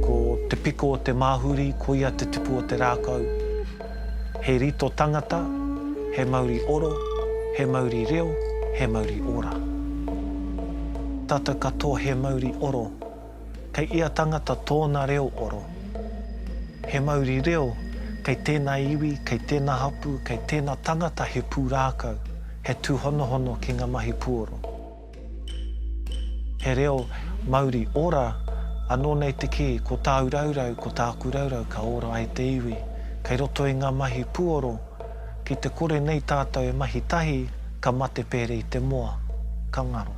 Ko te piko o te māhuri, ko ia te tipu o te rākau. He rito tangata, he mauri oro, he mauri reo, he mauri ora. Tata katoa he mauri oro, Kei ia tangata tōna reo oro. He mauri reo, kei tēnā iwi, kei tēnā hapū, kei tēnā tangata he pūrākau, he tūhonohono ki ngā mahi puoro. He reo mauri ora, anō nei te kī, ko tāu raurau, ko tāku raurau ka ora ai te iwi. Kei roto i ngā mahi puoro, ki te kore nei tātou e mahi tahi, ka mate pērei te moa. Ka ngaro.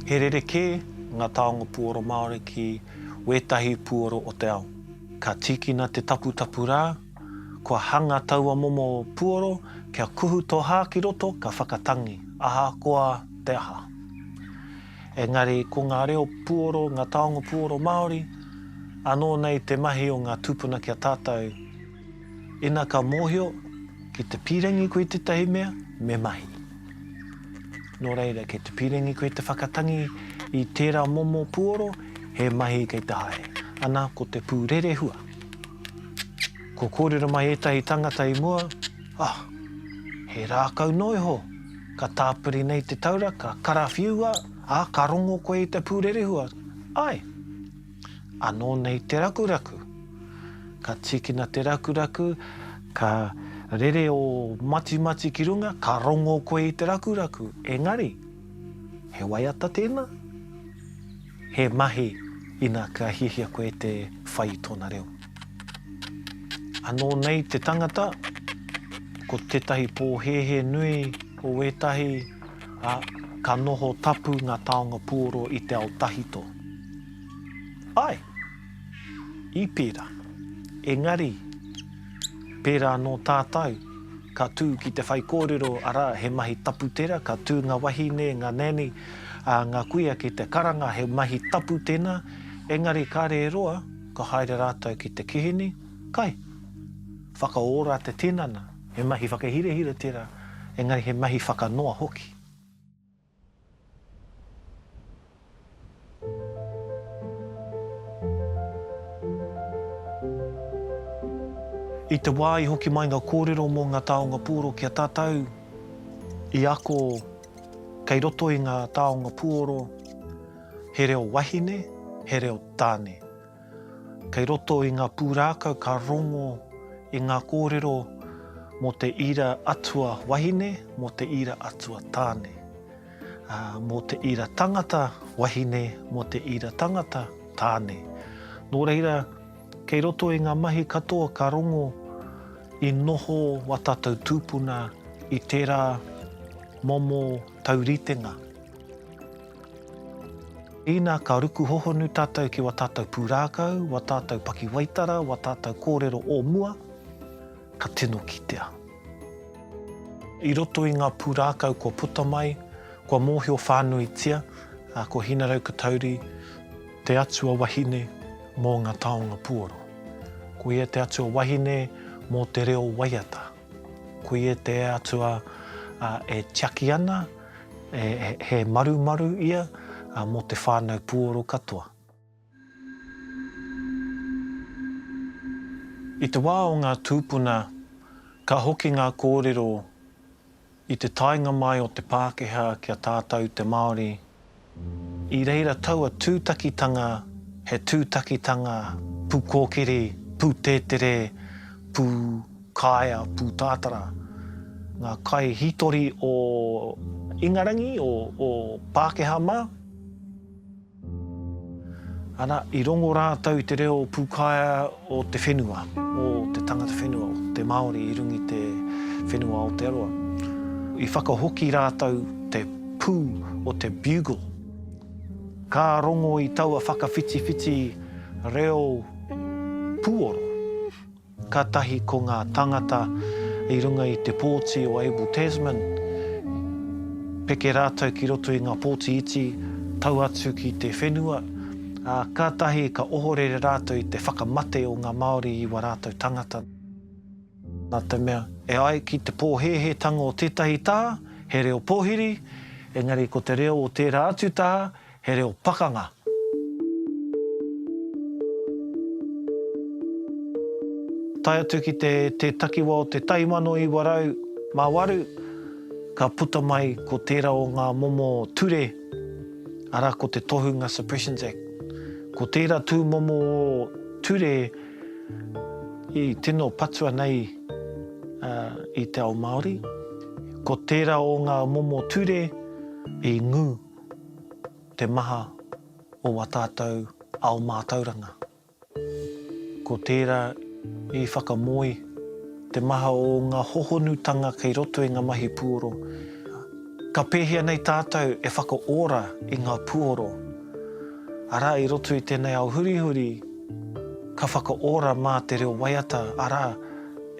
He rerekē ngā taonga puoro Māori ki wētahi puoro o te ao. Ka tīkina te taputapu rā Kua hanga taua momo puoro kia kuhu to ha ki roto ka whakatangi ahakoa te aha. Engari ko nga reo puoro, nga taonga puoro Maori ano nei te mahi o nga tupuna kia tatau ina ka mohio ki te pirangi koe tetahi mea me mahi. No reira kei te pirangi koe te whakatangi i tera momo puoro he mahi kei te haere ana ko te pu rerehua. Ko kōrero mai ētahi tangata i mua, Ah! He rākau noa iho! Ka tāpiri nei te taura, ka karawhiua, ā, ka rongo koe i te pūrerehua. Āe! Anō nei te rakuraku. Ka tīkina te rakuraku, ka rere ō matimati ki runga, ka rongo koe i te rakuraku. Engari, he waiata tēnā? He mahi ina ka hiahia koe te whai i tōna reo. Anō nei te tangata, ko tētahi pōhēhē nui o wētahi, ā, ka noho tapu ngā taonga puoro i te ao tahito. Āe! I pērā. Engari. Pērā anō tātou, ka tū ki te whaikōrero, arā, he mahi tapu tērā, ka tū ngā wahine, ngā nanny, ā, ngā kuia ki te karanga, he mahi tapu tēnā, engari kāre e roa, ka haere rātou ki te kihini, kai. Whakaora te tinana. He mahi whakahirahira tērā, engari he mahi whakanoa hoki. I te wā i hoki mai nga kōrero mō nga taonga pūoro ki a tātou, i ako kei roto i nga taonga pūoro he reo wahine, he reo tāne. Kei roto i ngā pūrākau ka rongo i ngā kōrero mō te ira atua wahine, mō te ira atua tāne, ā, mō te ira tangata wahine, mō te ira tangata tāne. Nō reira, kei roto i ngā mahi katoa ka rongo i noho wā tātou tūpuna i tērā momo tauritenga. Ina ka ruku hohonu tatou ki wa tatou purākau, wa tatou pakiwaitara, wa tatou kōrero o mua, ka tino kitea. I roto i nga purākau kua puta mai, kua mōhio whānuitia, a ko Hinaraukatauri te atua wahine mō nga taonga puoro. Ko ia te atua wahine mō te reo waiata. Koia te Atua e tiaki ana, he marumaru ia mō te whānau puoro katoa. I te wā o ngā tūpuna, ka hoki ngā kōrero I te taenga mai o te Pākehā ki a tātou te Māori, i reira taua tūtakitanga he tūtakitanga pūkōkiri, pūtētere, pūkaea, pūtātara. Ngā kaihītori o Ingarangi, o Pākehā mā. Ana, i rongo rātou i te reo pūkaea o te whenua, o te tangata whenua, o te Māori i runga i te whenua o Aotearoa. I whakahoki rātou te pū o te bugle. Ka rongo i taua whakawhitiwhiti reo pūoro. Kātahi ko ngā tāngata i runga i te pōti o Abel Tasman, peke rātou ki roto i ngā pōti iti, tau atu ki te whenua, ā, kātahi ka ohorere rātou i te whakamate o ngā Māori i wā rātou tāngata. Nā te mea, e ai ki te pōhēhētanga o tētahi taha, he reo pōhiri, engari ko te reo o tērā atu taha, He reo pakanga. Tae atu ki te te takiwa o te taimano iwa rau ma waru, ka puta mai ko tera o nga momo ture, ara ko te Tohunga Suppressions Act. Ko tera tu momo ture i tino patua nei i te ao Maori, ko tera o nga momo ture i ngu. te maha o wā tātou ao mātauranga. Ko tērā i whakamoe te maha o ngā hohonutanga kei roto i ngā mahi puoro. Ka pēhea nei tātou e whakaora i ngā puoro? Arā, i roto i tēnei ao hurihuri, ka whakaora mā te reo waiata, arā,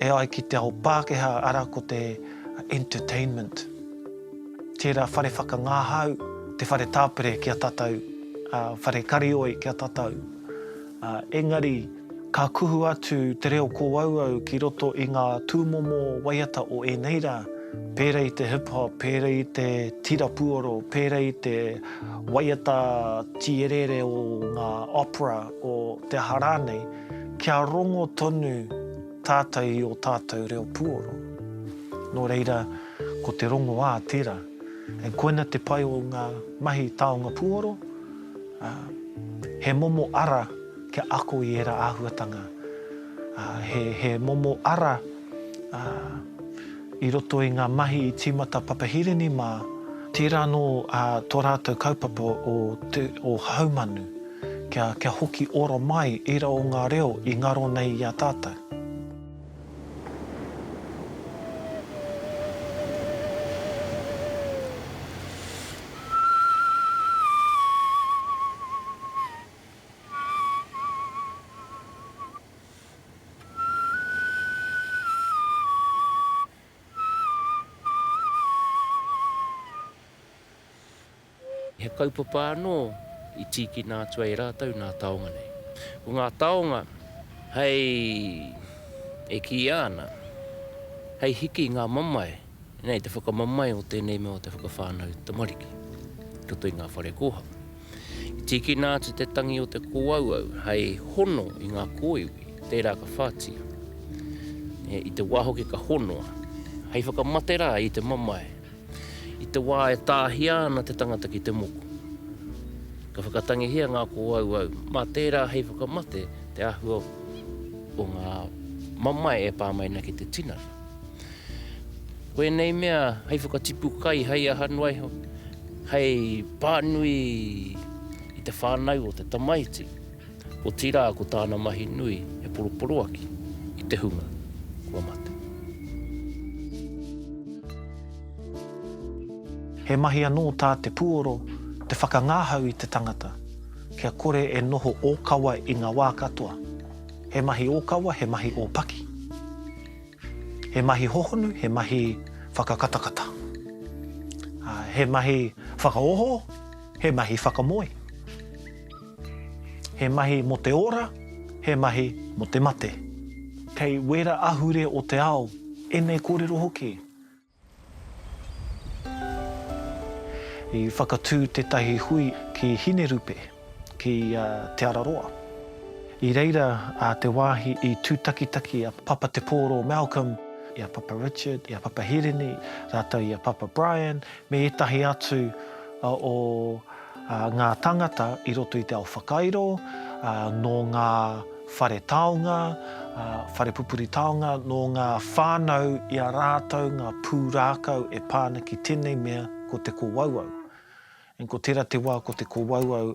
e ai ki te ao Pākehā, arā ko te entertainment. Tera whare whakangahau, te whare tapere ki a tatou, whare karioi ki a tatou. Engari, ka kuhu atu te reo kōauau ki roto i ngā tūmomo waiata o ēnei rā, pēra i te hip hop, pēra i te tira puoro, pēra i te waiata tīereere o ngā opera, o te aha rānei, kia rongo tonu. Tātou i ō tātou reo puoro. Nō reira, ko te rongoā tērā. And koina te pai o ngā mahi taonga puoro, ā, he momo ara kia ako i ērā āhuatanga, ā, he, he momo ara, ā, i roto i ngā mahi i tīmata Papahirini mā, tērā anō, ā, tō rātou kaupapa o te, o Haumanu. kia, kia hoki ora mai ērā o ngā reo i ngaro nei i a tātou. He kaupapa anō i tīkina atu ai rātou nā taonga nei. Ko ngā taonga hei, e kīia ana, hei hiki i ngā mamae, nei te whakamamae o tēnei mea o te whakawhānau tamariki i roto i ngā whare kōhanga. I tīkina atu te tangi o te kōauau hei hono i ngā kōiwi, tērā ka whātia. I te wā hoki ka honoa, hei whakamate rā i te mamae. I te wā e tāhia ana te tangata ki te moko, ka whakatangihia ngā kōauau mā tērā hei whakamate te āhua o ngā mamae e pā mai ana ki te tinana. Ko ēnei mea hei whakatipu kai, hei aha noa iho, hei pānui i te whānau o te tamaiti. Otirā ko tāna mahi nui he poroporoaki i te hunga kua mate. He mahi anō tā te puoro te whakangahau i te tangata kia kore e noho ōkawa i ngā wā katoa. He mahi ōkawa, he mahi ōpaki. He mahi hohonu, he mahi whakakatakata. He mahi whakaoho, he mahi whakamoe. He mahi mo te ora, he mahi mo te mate. Kei wera ahure o te ao enei korero hoki. I whakatu tetahi hui ki Hinerupe, ki Te Araroa. I reira te wahi i tutakitaki a Papa Te Poro Malcolm i a Papa Richard, i a Papa Hirini, ratou i a Papa Brian, me ētahi atu o ngā tāngata i roto i te ao whakairo, nō ngā whare taonga, whare pupuri taonga, nō ngā whānau i a rātou ngā pūrākau e pā ana ki tēnei mea ko te kōauau. Ko tērā te wā ko te kōauau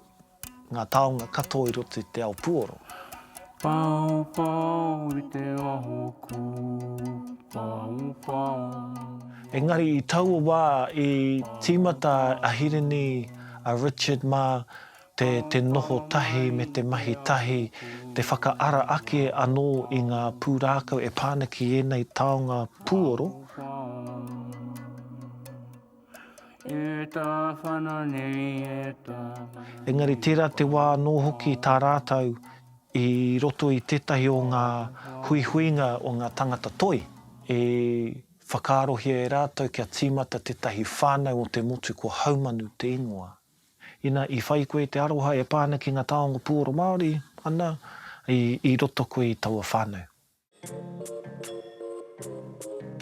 Ngā taonga katoa i roto i te ao puoro. Whaowhao i te aho kū, whaowhao. Engari i taua wā i tīmata a Hirini, a Richard mā, te te noho tahi me te mahi tahi, te whakaara ake anō i ngā pūrākau e pā ana ki ēnei taonga puoro. Whaowhao. Engari tērā te wā anō hoki tā rātou i roto i tētahi o ngā huihuinga o ngā tangata toi, i whakaarohia e rātou kia tīmata tētahi whānau o te motu ko Haumanu te ingoa. Ina i whai koe te aroha e pā ana ki ngā taonga puoro Māori, ana, i roto koe i taua whānau.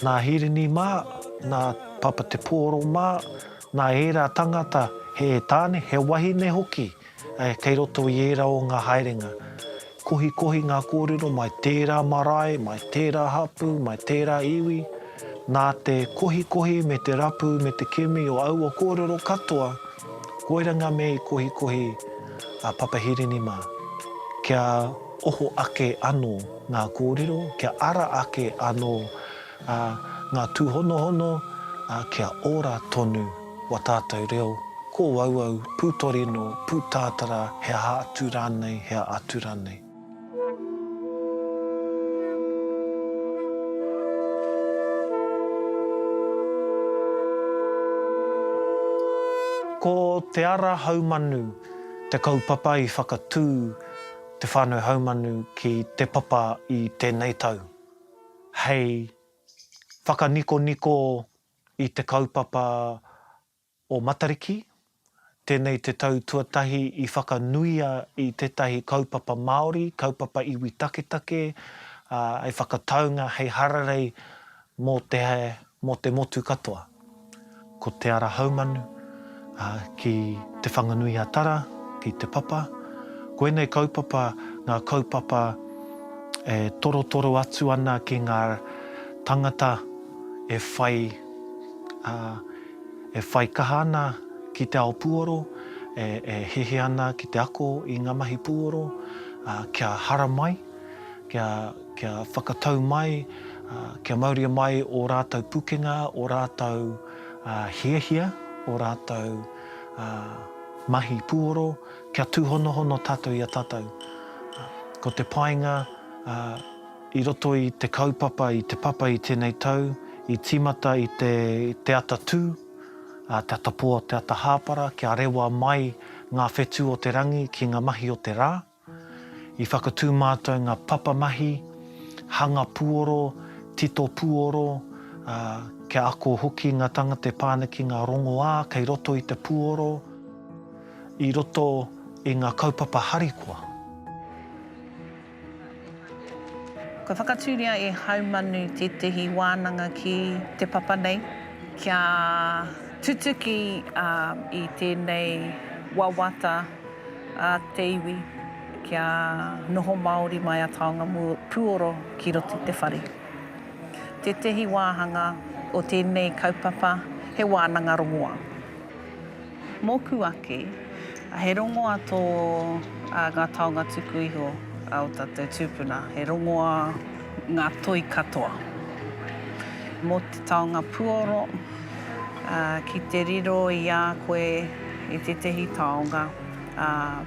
Nā Hirini mā, nā Papa Te Pōro mā, nā ērā tangata he tāne, he wahine hoki kei roto i ērā o ngā haerenga. Kohikohi ngā kōrero mai tērā marae, mai tērā hapū, mai tērā iwi. Nā te kohikohi me te rapu me te kimi o aua kōrero katoa, koirā ngā mea i kohikohi a Papa Hirini mā. Kia. oho ake anō ngā kōrero, kia ara ake anō ngā tūhonohono, ā, kia ora tonu wā tātou reo, kōauau, pūtorino, pūtātara, he aha atu rānei, he aha atu rānei. Ko Te Ara Haumanu te kaupapa i whakatū. te whānau haumanu ki Te Papa i tēnei tau, hei whakanikoniko i te kaupapa o Matariki, tēnei te tau tuatahi i whakanuia i tētahi kaupapa Māori, kaupapa iwi taketake, hei whakataunga, hei hararei Mō te hae, mō te motu katoa. Ko Te Ara Haumanu, ki Te Whanganui-a-Tara, ki Te Papa. Ko ēnei kaupapa ngā kaupapa e torotoro atu ana ki ngā tangata e whai, e whai kaha ana ki te ao pūoro, e hehe ana ki te ako i ngā mahi pūoro, kia haramai, kia. Kia whakatau mai, kia mauria mai ō rātou pukenga, ō rātou hiahia, ō rātou mahi puoro, kia tūhonohono tātou i a tātou. Ko te painga i roto i te kaupapa, i te papa i tēnei tau, i tīmata i te ata tū, te ata pō, te ata hāpara, kia rewa mai ngā whetū o te rangi ki ngā mahi o te rā. I whakatū mātou ngā papamahi, hanga puoro, tito puoro, ā, kia ako hoki ngā tāngata e pā ana ki ngā rongoā kei roto i te puoro, i roto i ngā kaupapa harikoa. Kua whakatūria e Haumanu tētehi wānanga ki te papa nei kia tutuki i tēnei wawata a te iwi kia noho māori mai a taonga puoro ki roto i te whare. Tētehi wāhanga o tēnei kaupapa he wānanga rongoā. Mōku ake, he rongoa tō ngā taonga tuku iho o tātou tūpuna, he rongoa ngā toi katoa. Mō te taonga puoro, ki te riro i a koe i tētehi taonga,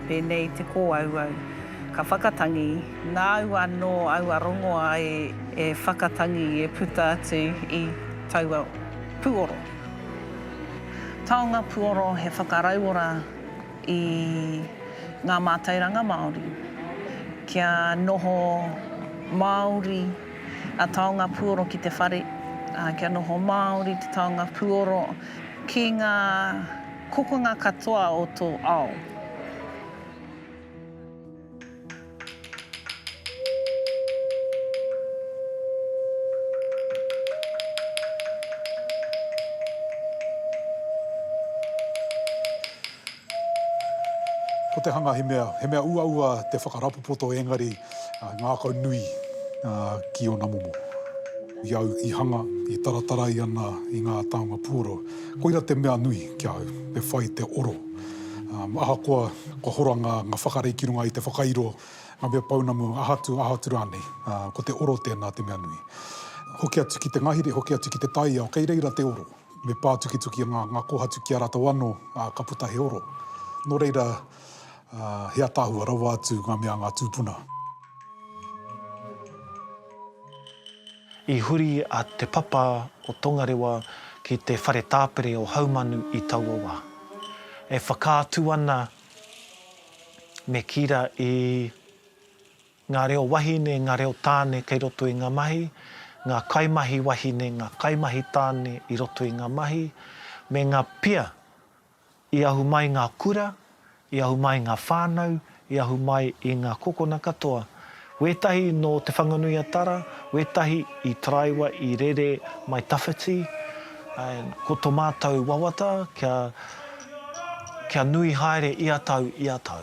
pēnei i te kōauau, ka whakatangi, nāu anō aua rongoa e whakatangi, e puta atu i taua puoro. Taonga Puoro he whakarauora i ngā mātauranga Māori. Kia noho Māori a Taonga Puoro ki te whare, ā, kia noho Māori te Taonga Puoro ki ngā kokonga katoa o tō ao. Ko te hanga he mea, he mea uaua te whakarapopoto engari ngākau nui ki ōna momo. I au i hanga, i taratarai ana i ngā taonga puoro, koira te mea nui ki a au, me whai te oro. Ahakoa Kua hora ngā whakarei ki runga i te whakairo, ngā mea pounamu, aha atu, aha atu rānei. Ko te oro tēnā te mea nui. Hoki atu ki te ngahere, hoki atu ki te taiao, kei reira te oro. Me pā tukituki ngā kōhatu ki a rātou anō, ā, ka puta he oro. Nō reira, he ataahua rawa atu ngā mea a ngā tūpuna. I huri a Te Papa o Tongarewa ki te whare tāpere o Haumanu i taua wā. E whakaatu ana me Kira i ngā reo wahine, ngā reo tāne kei roto i ngā mahi, ngā kaimahi wahine, ngā kaimahi tāne i roto i ngā mahi, me ngā pia I ahu mai ngā kura, i ahu mai ngā whānau, i ahu mai i ngā kokona katoa. Wētahi nō Te Whanganui-a-Tara, wētahi i taraiwa i rere mai tawhiti, ā, ko tō mātou wawata kia, kia nui haere ia tau, ia tau.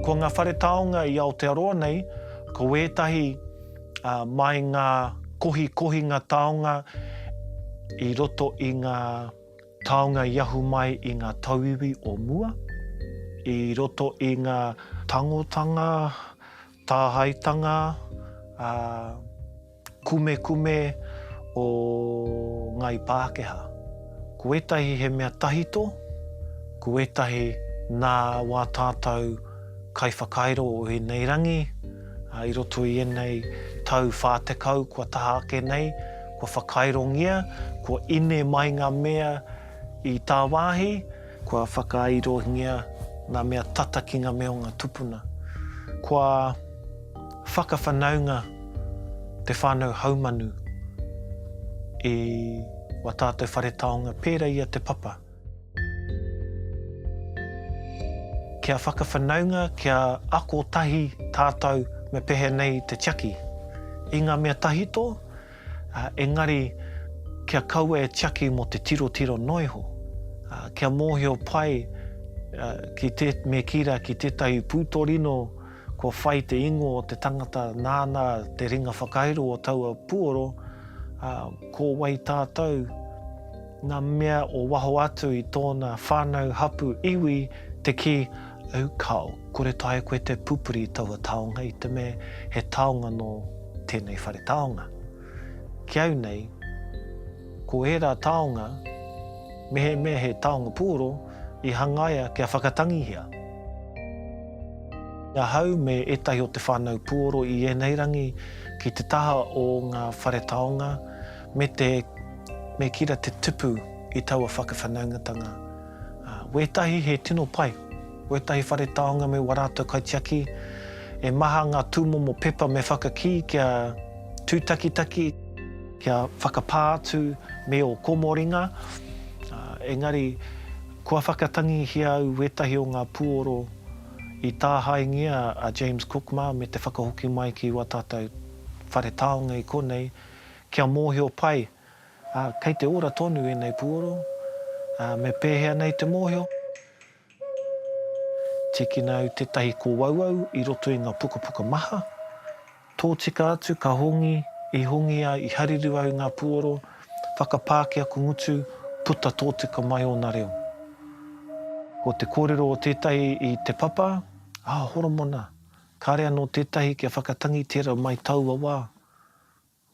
Ko ngā whare taonga i Aotearoa nei, ko ētahi mai ngā kohikohinga taonga i roto i ngā taonga i ahu mai i ngā tauiwi o mua, i roto i ngā tangotanga Tāhaetanga, ā, kumekume o ngāi Pākehā. Ko ētahi he mea tahito, ko ētahi nā wā tātou kaiwhakairo o ēnei rangi, ā, i roto i ēnei tau 40 kua taha ake nei, kua whakairongia, kua ine mai ngā mea i tāwāhi. Kua whakairongia ngā mea tata ki ngā mea o ngā tupuna. Kua whakawhanaunga te whānau haumanu i wā tātou whare taonga pērā i a Te Papa. Kia whakawhanaunga, kia ako tahi tātou me pehea nei te tiaki i ngā mea tahito, engari kia kaua e tiaki mō te tirotiro noa iho, kia mōhio pai me kī rā ki tētahi pūtorino kua whai te ingoa o te tangata nāna te ringa whakairo o taua puoro, ko wai tātou, ngā mea o waho atu i tōna whānau, hapū, iwi, te kī, au kao, kore taea koe te pupuri i taua taonga i te mea he taonga nō tēnei whare taonga. Ki au nei, ko ērā taonga, mehemea he taonga puoro, i hangaia kia whakatangihia. Ahau me ētahi o te whānau puoro i ēnei rangi ki te taha o ngā whare taonga me te me kira te tupu i taua whakawhanaungatanga. Ā, wētahi he tino pai, wētahi whare taonga me wā rātou kaitiaki, e maha ngā tūmomo pepa me whakakī kia tūtakitaki, kia whakapā atu me ō komoringa, ā, engari kua whakatangihia au wētahi o ngā puoro i tāhaengia a James Cook mā me te whakahoki mai ki wā tātou whare taonga i konei, kia mōhio pai. Ā, kei te ora tonu ēnei puoro, ā, me pēhea nei te mōhio? Tīkina au tētahi kōauau i roto i ngā pukapuka maha, tōtika atu ka hongi, i hongi ai, i hariru au i ngā puoro, whakapāki aku ngutu, puta tōtika mai ōna reo. Ko te kōrero o tētahi i Te Papa, Ā, Horomona, kāre anō tētahi kia whakatangi tērā mai taua wā.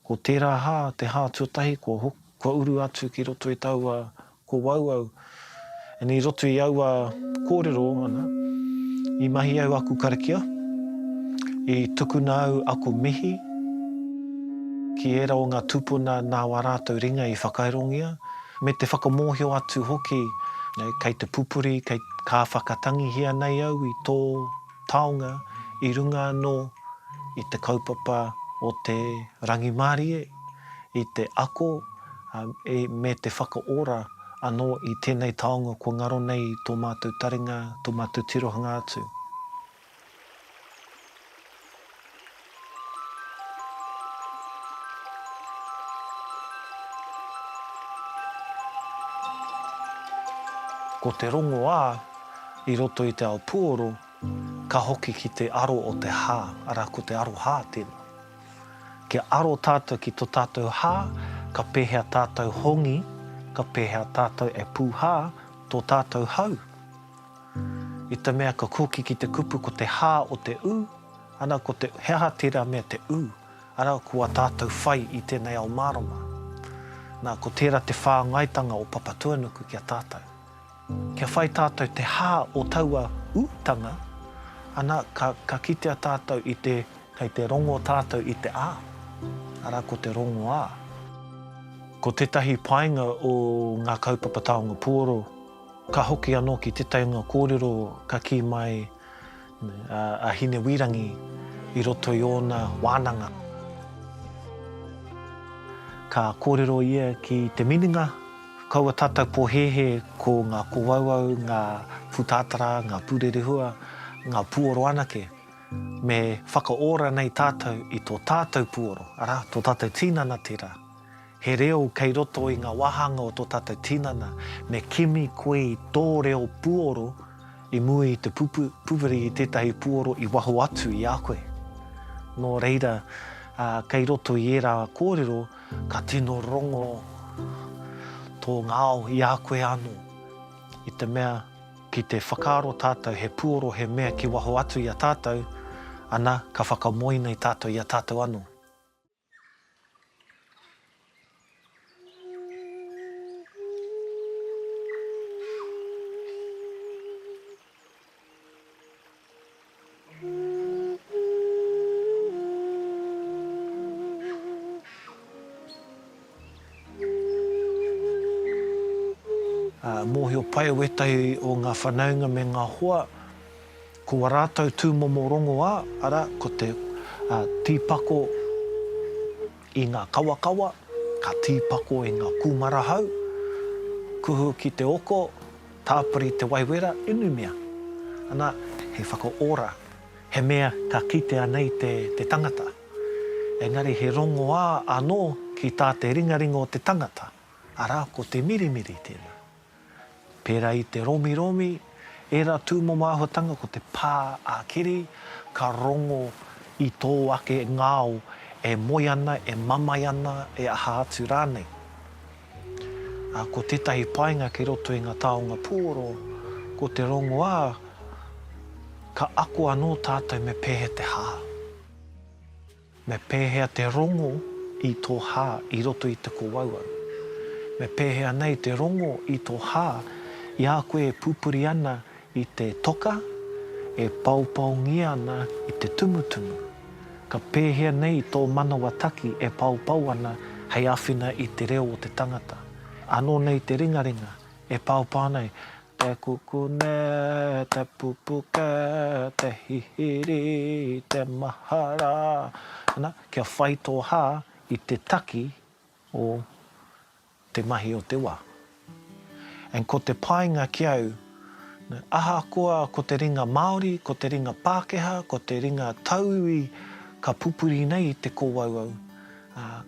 Ko tērā hā, te hā tuatahi kua ho, kua uru atu ki roto i taua ko wau au, and i roto i aua kōrero ana, i mahi au aku karakia, i tukuna au aku mihi ki ērā o ngā tūpuna nā wā rātou ringa i whakairongia, me te whakamōhio atu hoki, kei te pupuri, kei, ka whakatangihia nei au i tō. taonga i runga anō i te kaupapa o te rangimārie, i te ako me te whakaora anō i tēnei taonga kua ngaro nei tō mātou taringa, tō mātou tirohanga atu. Ko te rongoā, i roto i te ao puoro, ka hoki ki te aro o te hā, arā, ko te aroha tēnā. Kia aro tātou ki tō tātou hā, ka pēhea tātou hongi, ka pēhea tātou e pūhā tō tātou hau? I te mea ka koki ki te kupu ko te hā o te ū, ana ko te he aha tērā mea te ū, arā ko a tātou whai i tēnei ao mārama. Nā, ko tērā te whāngaitanga o Papatuanuku ki a tātou. Kia whai tātou te hā o taua ūtanga, ana ka, ka kitea tātou i te, kei te rongo tātou i te ā, arā ko te rongoā. Ko tētahi painga o ngā kaupapa taonga puoro Ka hoki anō ki te taunga kōrero ka kī mai a Hinewīrangi i roto i ōna wānanga. Ka kōrero ia ki te minenga, Kaua tātou pōhēhē ko ngā kōauau, ngā pūtātara, ngā pūrerehua, ngā puoro anake. Me whakaora nei tātou i tō tātou puoro, arā, tō tātou tīnana tērā. He reo kei roto i ngā wāhanga o tō tātou tinana, me kimi koe i tō reo puoro i mua i te pupuri i tētahi puoro i waho atu i a koe. Nō reira, kei roto i ērā kōrero ka tino rongo tō ngao i a koe anō, i te mea ki te whakaaro tātou he puoro he mea ki waho atu i a tātou, ana, ka whakamoe nei tātou i a tātou anō. Mōhio pai wētahi o ngā whanaunga me ngā hoa. Ko a rātou tūmomo rongoā, arā, ko te tīpako i ngā kawakawa, ka tīpako i ngā kūmara hau, kuhu ki te oko, tāpiri te waihwera, inumia, ana, he whakaora, he mea ka kitea nei te tangata. Engari he rongoā anō ki tā te ringaringa o te tangata, arā, ko te mirimiri tēnā. Pērā i te romiromi, ērā tūmomo āhuatanga ko te pā ā-kiri, ka rongo i tō ake ngao e moe ana, e mamae ana, e aha atu rānei. Ā, ko tētahi painga kei roto i ngā taonga pūoro, ko te rongoā, ka ako anō tātou me pēhea te hā. Me pēhea te rongo i tō hā i roto i te kowau au? Me pēhea nei te rongo i tō hā i a koe e pupuri ana i te toka, e paopaongia ana i te tumutumu? Ka pēhea nei tō manawa taki e paopao ana hei āwhina i te reo o te tangata? Anō nei te ringaringa e paopao ana Te kukune, te pupuke, te hihiri, te mahara, ana, kia whai tō hā i te taki o te mahi o te wā. And ko te painga ki au, ahakoa ko te ringa Māori, ko te ringa Pākehā, ko te ringa tauiwi ka pupuri nei i te kōauau,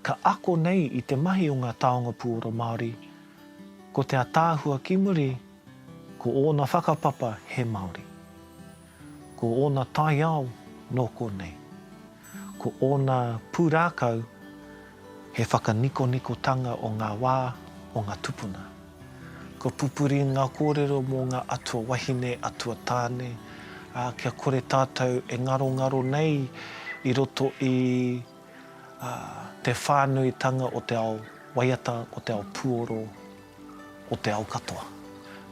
ka ako nei i te mahi o ngā taonga puoro Māori, Ko te ataahua ki muri, ko ōna whakapapa he Māori. Ko ōna taiao nō konei. Ko ōna pūrākau he whakanikonikotanga o ngā wā, o ngā tupuna. Kua pupuri ngā kōrero mō ngā atua wahine, atua tāne, ā, kia kore tātou e ngarongaro nei i roto i. ā, te whānuitanga o te ao waiata, o te ao puoro, o te ao katoa.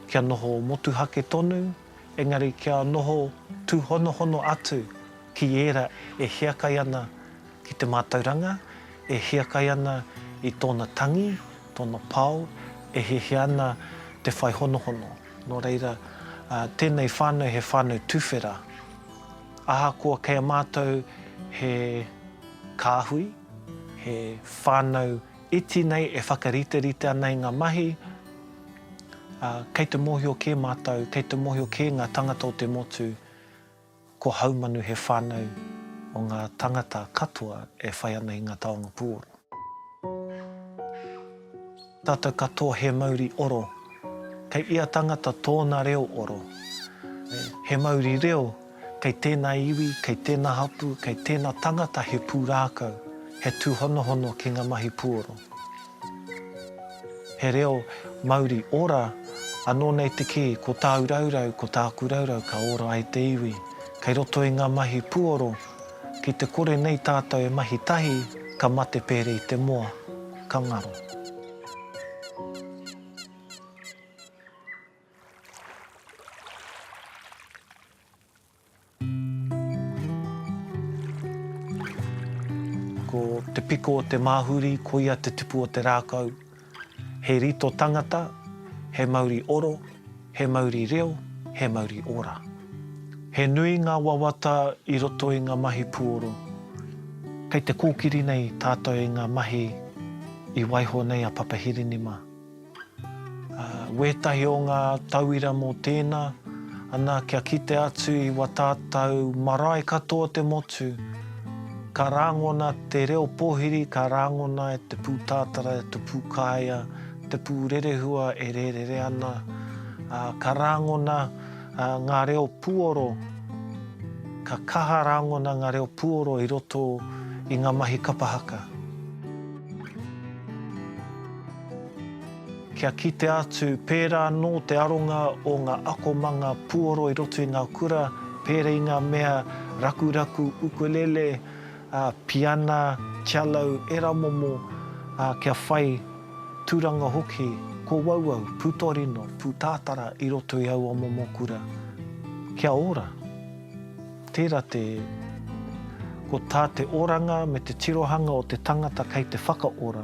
Kia noho motuhake tonu, engari kia noho tūhonohono atu ki ērā e hiakai ana ki te mātauranga, e hiakai ana i tōna tangi, tōna pao, e hiahia ana te whai honohono. Nō reira, tēnei whānau he whānau tuwhera. Ahakoa kei a mātou he kāhui, he whānau iti nei e whakariterite ana i ngā mahi, ā, kei te mōhio kē mātou, kei te mōhio kē ngā tāngata o te motu, ko Haumanu he whānau o ngā tāngata katoa e whai ana i ngā taonga pūoro. Tātou katoa he mauri oro. Kei ia tangata tōna reo oro. He mauri reo, kei tēnā iwi, kei tēnā hapū, kei tēnā tangata he pūrākau, he tūhonohono ki ngā mahi puoro. He reo mauri ora, anō nei te kī, ko tāu raurau, ko tāku raurau ka ora ai te iwi. Kei roto i ngā mahi puoro, Ki te kore nei tātou e mahi tahi, ka mate pērē i te moa, ka ngaro. Ko te piko o te māhuri, koia te tupu o te rākau, He rito tangata, he mauri oro, he mauri reo, he mauri ora. He nui ngā wawata i roto i ngā mahi puoro. Kei te kōkiri nei tātou i ngā mahi i waiho nei a Papa Hirinima. Wētahi o ngā tauira mō tēnā, ana kia kite atu i wa tātou marae katoa te motu, Ka rāngona te reo pōhiri, ka rāngona e te pūtātara, e te pūkāea, te pū rerehua e rērere ana, ā, ka rāngona ngā reo puoro, ka kaha rāngona ngā reo puoro i roto i ngā mahi kapa haka. Kia kitea atu, pērā nō te aronga o ngā akomanga puoro i roto i ngā kura, pēra i ngā mea rakuraku, ukulele, piana, cello, ērā momo, kia whai tūranga hoki, kōauau, pūtorino, pūtātara i roto i aua momo kura. Kia ora. Tērā te, ko tā te oranga me te tirohanga o te tangata kei te whakaora,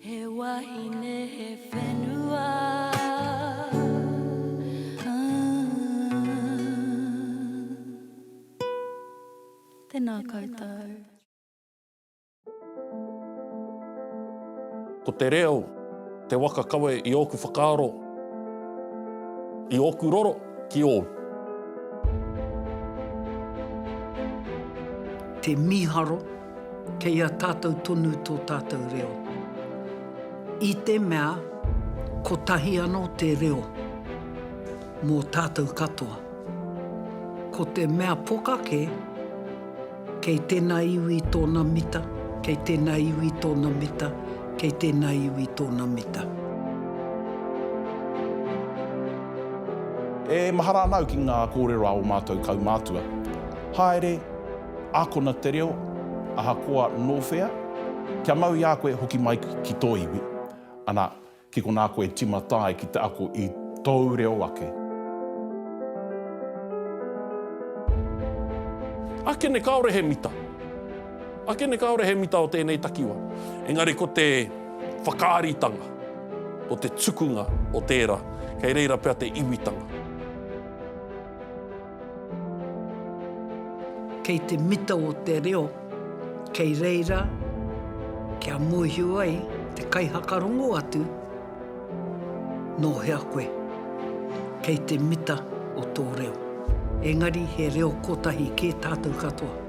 He wahine, he whenua, ah. Tēnā koutou. Ko te reo te waka kawe i ōku whakaaro, i ōku roro ki ōu. Te mīharo. Kei a tātou tonu tō tātou reo. I te mea, kotahi anō te reo mō tātou katoa. Ko te mea poka kē, kei tēnā iwi tōna mita, kei tēnā iwi tōna mita, kei tēnā iwi tōna mita. E mahara ana au ki ngā kōrero a ō mātou kaumātua. Haere! Ākona te reo, ahakoa nō whea, kia mau i a koe e hoki mai ki tō iwi, ana, ki konā koe e tīmata ai ki te ako i tōu reo ake. Ake nei kāore he mita. Ake nei kāore he mita o tēnei takiwā. Engari ko te whakaaritanga, ko te tukunga o tērā, kei reira pea te iwitanga. Kei te mita o te reo, kei reira kia mōhio ai te kaihakarongo atu nō hea koe. Kei te mita o tō reo. Engari he reo kotahi kē tātou katoa.